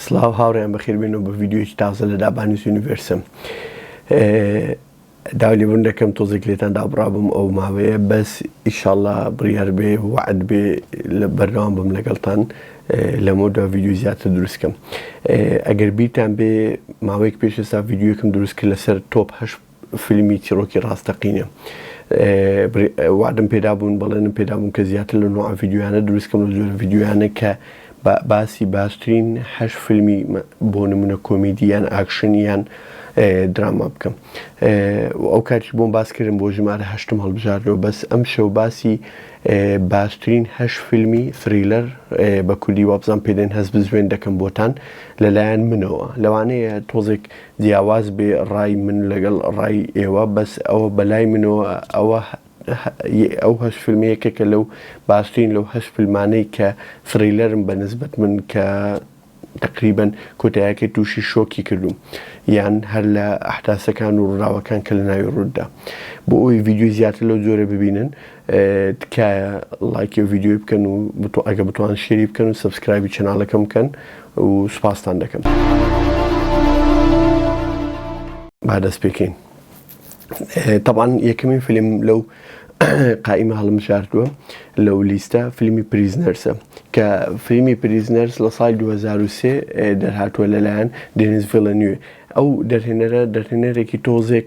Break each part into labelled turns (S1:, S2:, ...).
S1: سڵاو هاوڕێیان بەخێربێن و بە ڤیددیوەکی تازە لە دابانیز یونیڤرسم دالیبوون دەکەم تۆزێک لێتان دابڕابم ئەو ماوەیە بەس ئیشاءله بڕیار بێ وعد بێ لە بەردەوام بم لەگەڵتان لەمە دو ڤیددیو زیاتر دروستکەم ئەگەر بیرتان بێ ماوەیەک پێش ئێستا ڤیددیوکم دروست کرد لەسەر تۆپ هەش فیلمی چیڕۆکی ڕاستەقینە. وەعدم پێدابوون، بەڵێنم پێدابوون کە زیاتر لەو نەوعە ڤیدیۆیانە دروست کەم، لەو جۆرە ڤیدیۆیانە کە باسی باشترین هەشت فیلمی بۆ نموونە کۆمیدی یان ئاکشن یان دراما بکەم. ئەو کاتیش بۆم باس کردم بۆ ژمارە هەشتم هەڵبژاردەوە، بەس ئەمشەو باسی باشترین هەشت فیلمی ثریلەر، بە کوردی وابزانم پێدێن هەست بزوێن، دەکەم بۆتان لەلایەن منەوە. لەوانەیە تۆزێک جیاواز بێ ڕای من لەگەڵ ڕای ئێوە بەس ئەوە بەلای منەوە ئەوە ئەو هەش فیلمە یەکێکە لەو باشترین لەو هەش فیلمانەی کە ثڕیلەرن بە نسبەت من کە تقریبن کۆتایەکەی تووشی شۆکی کردوم یان هەر لە ئەحداسەکان و ڕووداوەکان کە لە ناوی ڕوودا بۆ ئەوی ڤیددیوی زیاتر لەو جۆرە ببینن تکایە لایکی و ڤیددیوی بکەن و ئەگە بتوان شێری بکەن و سبسکرایبی چناڵەکەم بکەن و سوپاستان دەکەم. با دەست پێکەین. تەبان یەکەمین فیلم لەو قائیمە هەڵمشارتووە لەو لیستە فیلمی پریزنەرسە کە فیلمی پریزنەرس لە سای 2023 دەرهاتووە لەلایەن دێنیز ڤلەنوێ ئەو دەرهێنەرە دەرهێنەرێکی تۆزێک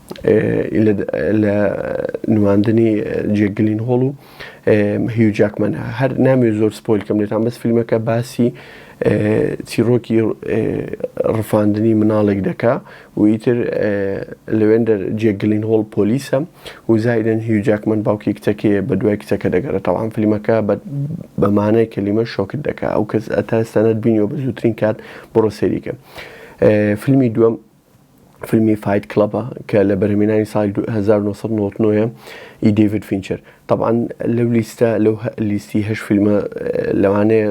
S1: لە نواندنی جێک گلین هۆڵ و هیو جاکمەن هەر ناوێ زۆر سپۆیل کەم لێتان بەس فیلمەکە باسی چیرۆکی ڕفاندنی مناڵێک دەکا و ئیتر لەوێندەر جێک گلین هۆڵ پۆلیسە و زایدن هیو جاکمەن باوکی کچەکەیە بە دوای کچەکە دەگەرێتەوان فیلمەکە بەمانای کەلیمە شۆکت دەکا ئەو کەس ئەتا ستانەت بینیەوە بە زووترین کات بڕۆ سەریکە فیلمی دووەم فیلمی فایت کڵەبە کە لە بەرهەمێنانی ساڵی دو هەزار و نۆ سەد و نەوەد و نۆ یە ی دەیڤد فینچەر تەبعەن لەو لیستە لەو هە لیستی هەشت فیلمە لەوانەیە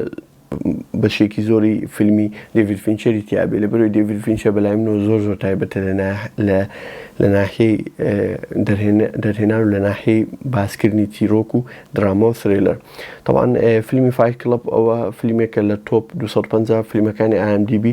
S1: بەشێکی زۆری فیلمی دەیڤد فینچەری تیا بێ لەبەرەوەی دەیڤد فینچەر بەلای منەوە زۆر زۆر تایبەتە لە نا لە لە ناحیەی ئێ دەرهێن دەرهێنان و لە ناحیەی باسکردنی چیرۆک و دراما و سرێلەر تەبعەن ئێ فیلمی فایت کڵەب ئەوە فیلمێکە لە تۆپ دو سەد و پەنجا فیلمەکانی ئای ئێم دی بی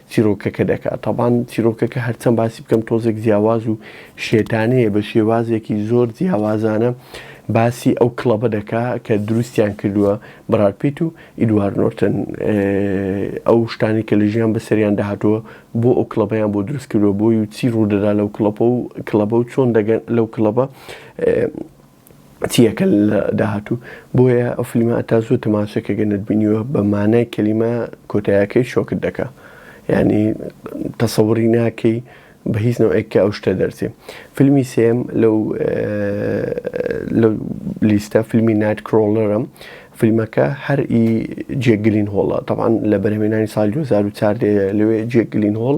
S1: چیرۆکەکە دەکات تابان چیرۆکەکە هەرچەند باسی بکەم تۆزێک جیاواز و شێتانەیە بە شێوازێکی زۆر جیاوازانە باسی ئەو کڵەبە دەکا کە دروستیان کردووە بەرات پیت و ئیدوار نۆرتن ئەو شتانی کە لە ژیان بەسەریان داهاتووە بۆ ئەو کڵەبیان بۆ دروست کردوە بۆی و چی ڕوودەدا لەو کڵەپە و کڵەبە و چۆن دەگەن لەو کڵەبە چیەکە لە داهاتوو بۆیە ئەو فلیمە ئەتا زوو تەماشەکە گە نەتبینیوە بە مانای کەلیمە کۆتایەکەی شۆکت دەکە ینی تەسەوری ناکەی بە هیچ نەوەیەکە ئەو شتە دەرچێ فیلمی سێم لەو لە لیستە فیلمی نایت کرۆلەرم فیلمەکە هەر ئی جێگلین هۆڵە تەوان لە بەرهمێنانی سال 2014 لەوێ جێگلین هۆڵ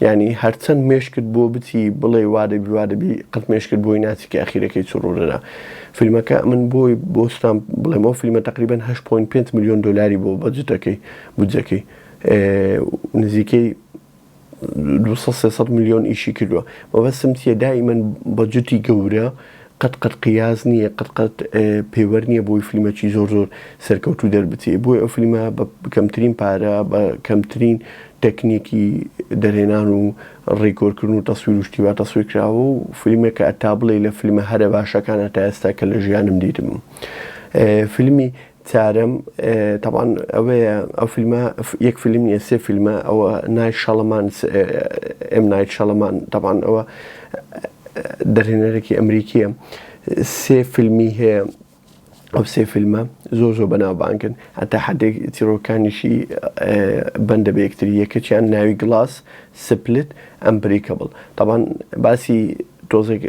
S1: یانی هەرچەند مێشکت بۆ بچی بڵێی وا دەبی وا دەبی قەت مێشکت بۆی ناچی کە ئەخیرەکەی چ ڕوو دەدا فیلمەکە من بۆی بۆ ستام بڵێم ئەو فیلمە تقریبان 8.5 میلیۆن دلاری بۆ بەجتەکەی بودجەکەی نزیکەی 200 میلیۆن ئیشی کردووە مەبەستم چیە دائیمەن بەجتی گەورە قەت قەت قیاس نیە قەت قەت پێوەر نیە بۆی فلیمەکی زۆر زۆر سەرکەوتو دەربچێ بۆی ئەو فلیمە بە کەمترین پارە بە کەمترین تەکنیکی دەرهێنان و ڕیکۆرکردن و تەسویر و شتیوا تەسویر کراوە و فلیمە کە ئەتا بڵێ لە فلیمە هەرە باشەکان هەتا ئێستا کە لە ژیانم دیتم فلیمی تارم تەبان ئەوەیە ئەو فیلمە یەک فیلم نیە سێ فیلمە ئەوە نای شەڵەمان ئێم نایت شەڵەمان تەبان ئەوە دەرهێنەرێکی ئەمریکیە سێ فیلمی هەیە ئەو سێ فیلمە زۆر زۆر بەناوبانگن هەتا حدێک تیرۆکانیشی بەندە بە یەکتری یەکەچیان ناوی گلاس سپلت ئەم بریکەبڵ تەبان باسی تۆزێک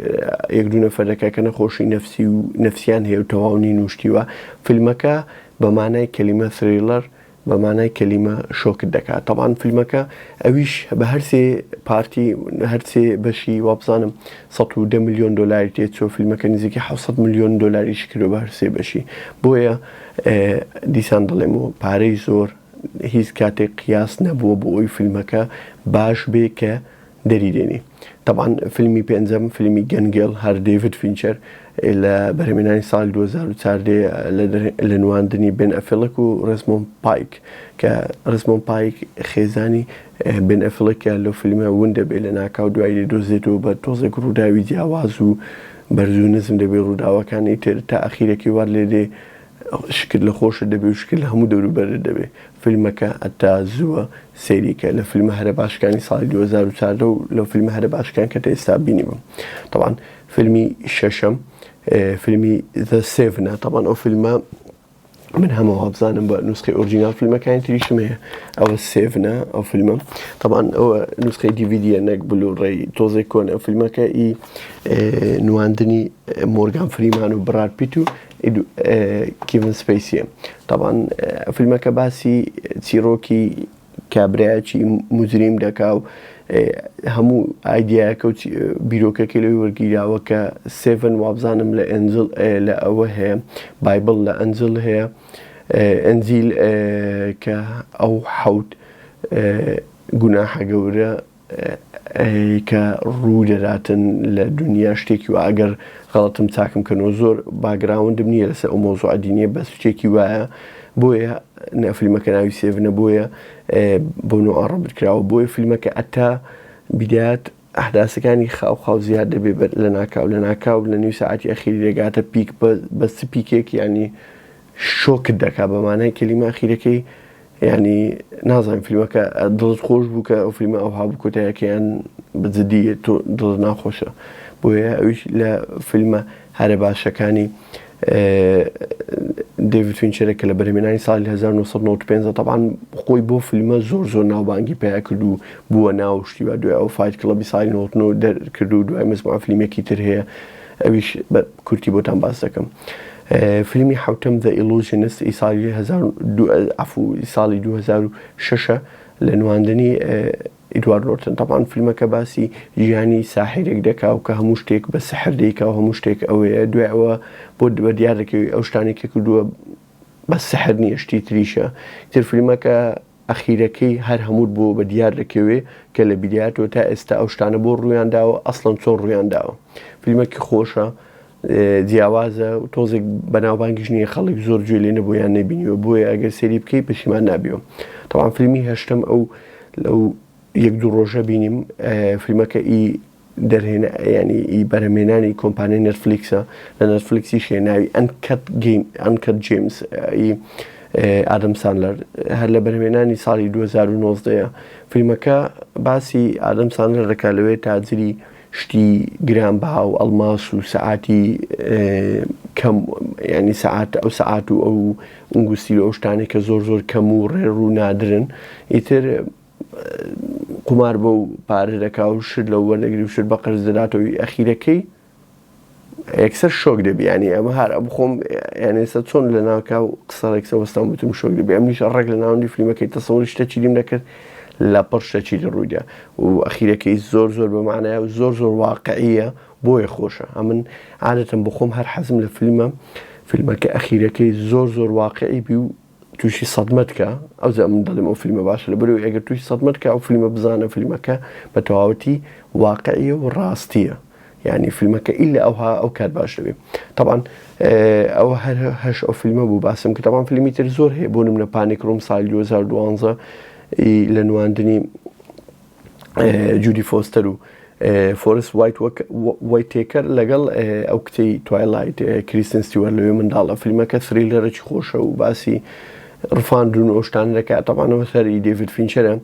S1: یەک دوو نەفەرەکە کە نەخۆشی نەفسی و نەفسیان هەیە و تەواو نین و شتیوە فیلمەکە بە مانای کەلیمە ثریلەر بە مانای کەلیمە شۆکت دەکات تەبان فیلمەکە ئەویش بە هەرسێ پارتی هەرسێ بەشی وابزانم ١10 میلیۆن دلاری تێ چۆ فیلمەکە نزیکی 600 میلیۆن دلاریش کرۆ بە هەرسێ بەشی بۆیە دیسان دەڵێم و پارەی زۆر هیچ کاتێک قیاس نەبووە بۆ ئەوی فیلمەکە باش بێ کە دەری دێنی تەبان فیلمی پێنجەم فیلمی گەنگێڵ هەر دەیڤد فینچەر لە بەرهمێنانی ساڵی 2014 لە نواندنی بن ئەفلک و ڕسمۆن پایک کە ڕسمۆن پایک خێزانی بن ئەفلکە لەو فیلمە ون دەبێت لە ناکاو دوایی لە دۆزێتەوە بە تۆزێک ڕووداوی جیاواز و بەرزو نزم دەبێت ڕووداوەکانی تر تا ئەخیرەکەی وار لێ دێ شکر لە خۆشت دەبێ و شکر لە هەموو دەوروبەرت دەبێ فیلمەکە ئەتا زووە سەیری کە لە فیلمە هەرە باشەکانی ساڵی دوو هەزار و چواردە و لە فیلمە هەرە باشەکان کە تە ئێستا بینیبم تەبعەن فیلمی شەشەم فیلمی The Seven ە تەبعەن ئەو فیلمە من هەمە وابزانم بە نوسخی ئۆرجینال فیلمەکانی تریشم هەیە ئەوە سێڤنە ئەو فیلمە طبعاان ئەوە نوسخی دیVیدە نەک بلو ڕێی تۆزێک کۆن ئەو فیلمەکە ئی نواندنی مۆرگان فریمان و بڕارپیت و کیڤن سپەیسیە تاوان فیلمەکە باسی چیرۆکی کابراایکی مجریم دەکا و هەموو ئایدایەکە و بیرۆکەکەی لەوی وەرگیراوە کە سێڤن وابزانم لە ئەنجل لە ئەوە هەیە بایبل لە ئەنجل هەیە ئەنجیل کە ئەو حەوت گوناحە گەورە ی کە ڕوو دەداتن لە دونیا شتێکی وایە گەر غەڵەتم چاکم کەنەوە زۆر باگراوندم نیە لەسەر ئەو مەوزوعە دینیە بەس شتێکی وایە بۆیە نە فلمەکە ناوی سێڤنە بۆیە بۆ نۆ ئاڕ ڕەبت کراوە بۆیە فلمەکە ئەتا بیدات ئەحداسەکانی خاو خاو زیاد دەبێ بەر لە ناکاو لە ناکاو لە نیو ساعەتی ئەخیری دەگاتە پیک بەس چ پیکێک یانی شۆکت دەکا بە مانای کەلیمە ئەخیرەکەی یعنی نازانم فیلمەکە دڵت خۆش بوو کە ئەو فیلمە ئەوها بوو کۆتایەکەیان بجددی تۆ دڵت ناخۆشە بۆیە ئەویش لە فیلمە هەرە باشەکانی دەیڤید فینچەرە کە لە بەرهمێنانی ساڵی 1995 تەبان خۆی بۆ فیلمە زۆر زۆر ناوبانگی پیا کرد و بووە ناو شتی و دوای ئەو فایت کڵبی ساڵی 99 دەرکرد و دوای مزما فیلمێکی تر هەیە ئەویش کورتی بۆتان باس دەکەم. فیلمی حەوتەم، The Illusionist، ی ساڵی دوو هەزار و دوو عەفو ی ساڵی دوو هەزار و شەش ە لە نواندنی ئیدوارد نۆرتن. تەبعەن فیلمەکە باسی ژیانی ساحیرێک دەکا و کە هەموو شتێک بە سحر دەیکا و هەموو شتێک ئەوێیە. دوای ئەوە بۆ بە دیار دەکەوی ئەو شتانەی کە کردووە بەس سحر نییە شتی تریشە. ئیتر فیلمەکە ئەخیرەکەی هەر هەمووت بۆ بە دیار دەکەوێ کە لە بیدایەتەوە تا ئێستا ئەو شتانە بۆ ڕوویان داوە، ئەسڵەن چۆن ڕوویان داوە. فیلمەکی خۆشە. جیاوازە و تۆزێک بەناوبانگیش نییە خەڵک زۆر گوێ لێ نەبوو یان نەبینیوە بۆیە ئەگەر سێری بکەی پەشیمان نابیەوە تاوان فیلمی هەشتم ئەو لەو یەک دوو ڕۆژە بینیم فیلمەکە ئی دەرهێن ینی ئی بەرەمێنانی کۆمپانیای نەرفلیکسە لە نەرفلیکسی شێناوی ئەنکەت گەین ئەنکەت جیمز ئادەم سانلەر هەر لە بەرهمێنانی ساڵی 2009 فیلمەکە باسی ئادەم سانلەر دەکات لەوێ تاجری شتی گران بەها و ئەڵماس و سەعاتی کەم یانی سەعات ئەو سەعات و ئەو ئونگوستی و ئەو شتانەی کە زۆر زۆر کەم و ڕێڕ و نادرن ئیتر قومار بەو پارە دەکا و شت لەو وەرنەگری و شت بە قەرز دەداتەوەی ئەخیرەکەی یەکسەر شۆک دەبی ینی ئەمە هەر بخۆم یانێستا چۆن لە ناکە و قسەڵێکسە وەستان بتم شۆک دەبی ئەم نیشە ڕێک لە ناوەندی فیلمەکەی تەسەوەری شتە چیدیم دەکرد لە پڕ شتە چی لە ڕوویدا و ئەخیرەکەی زۆر زۆر بەمانایە و زۆر زۆر واقعیە بۆیە خۆشە ئەمن عادەتم بخۆم هەر حەزم لە فیلمە فیلمەکە ئەخیرەکەی زۆر زۆر واقعی بی و توشی سەدمەت کە ئەو زەمن دەڵێم ئەو فیلمە باشە لە بەرو ئەگەر توشی سەدمەت کە ئەو فیلمە بزانە فیلمەکە بە تەواوەتی واقعیە و ڕاستیە یعنی فیلمەکە ئیلا ئەوها ئەو کات باش دەبێت طبعاان ئەو هەر هەش ئەو فیلمە بوو باسم کە تاوان فیلمی تر زۆر هەیە بوونم لە پانێک ڕوم سای 2012 لە نواندنی جودی فۆستەر و فۆرست وایت وایتێکەر لەگەڵ ئەو کچی توایلایت کریسن ستیوەر لەوێ منداڵە فیلمەکە سری لەرەی خۆشە و باسی ڕفاندون ئۆشتان دەکات تەوانەوە سەری دەڤید فینچەرە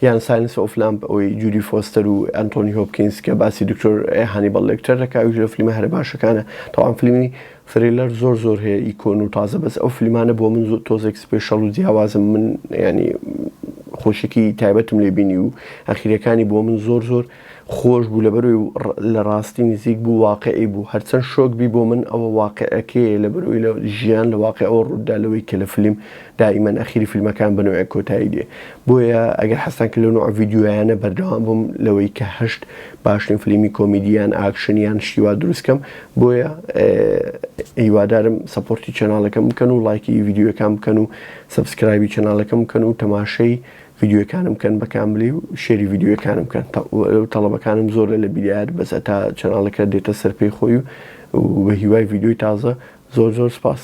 S1: یان ساینس ئۆفلامپ ئەوەی جودی فۆستەر و ئەنتۆنی هۆپکینس کە باسی دکتۆر هانیبڵ لەکتەر دەکاویش لە فیلمە هەرە باشەکانە تاوان فیلمی ثریلەر زۆر زۆر هەیە ی کۆن و تازە بەس ئەو فلمانە بۆ من زۆ تۆزێک سپێشەڵ و جیاوازم من یانی خۆشیکی تایبەتم لێ بینی و ئەخیرەکانی بۆ من زۆر زۆر خۆش بوو لەبەروی لە ڕاستی نزیک بوو واقعی بوو هەرچەند شۆک بی بۆ من ئەوە واقعەکەیە لەبەروی لە ژیان لە واقع ئەوە ڕووتدا لەوەی کە لە فلیم دائیمەن ئەخیری فلمەکان بە نۆعێک کۆتایی دێ بۆیە ئەگەر حەزتان کرد لەو نوعە ڤیدیۆیانە بەردەوام بم لەوەی کە هەشت باشترین فلیمی کۆمیدی یان ئاکشن یان شتی وا دروست کەم بۆیە هیوادارم سەپۆرتی چەناڵەکەم بکەن و لایکی ڤیددیوەکان بکەن و سبسکرایبی چەناڵەکەم بکەن و تەماشەی ڤیددیوەکانم بکەن بە کاملی و شێری ڤیددیوەکانم بکەن تەڵەبەکانم زۆر لە لە بیدایەت بەس تا چەناڵەکە دێتە سەر پێی خۆی و بە هیوای ڤیددیوی تازە زۆر زۆر سپاس.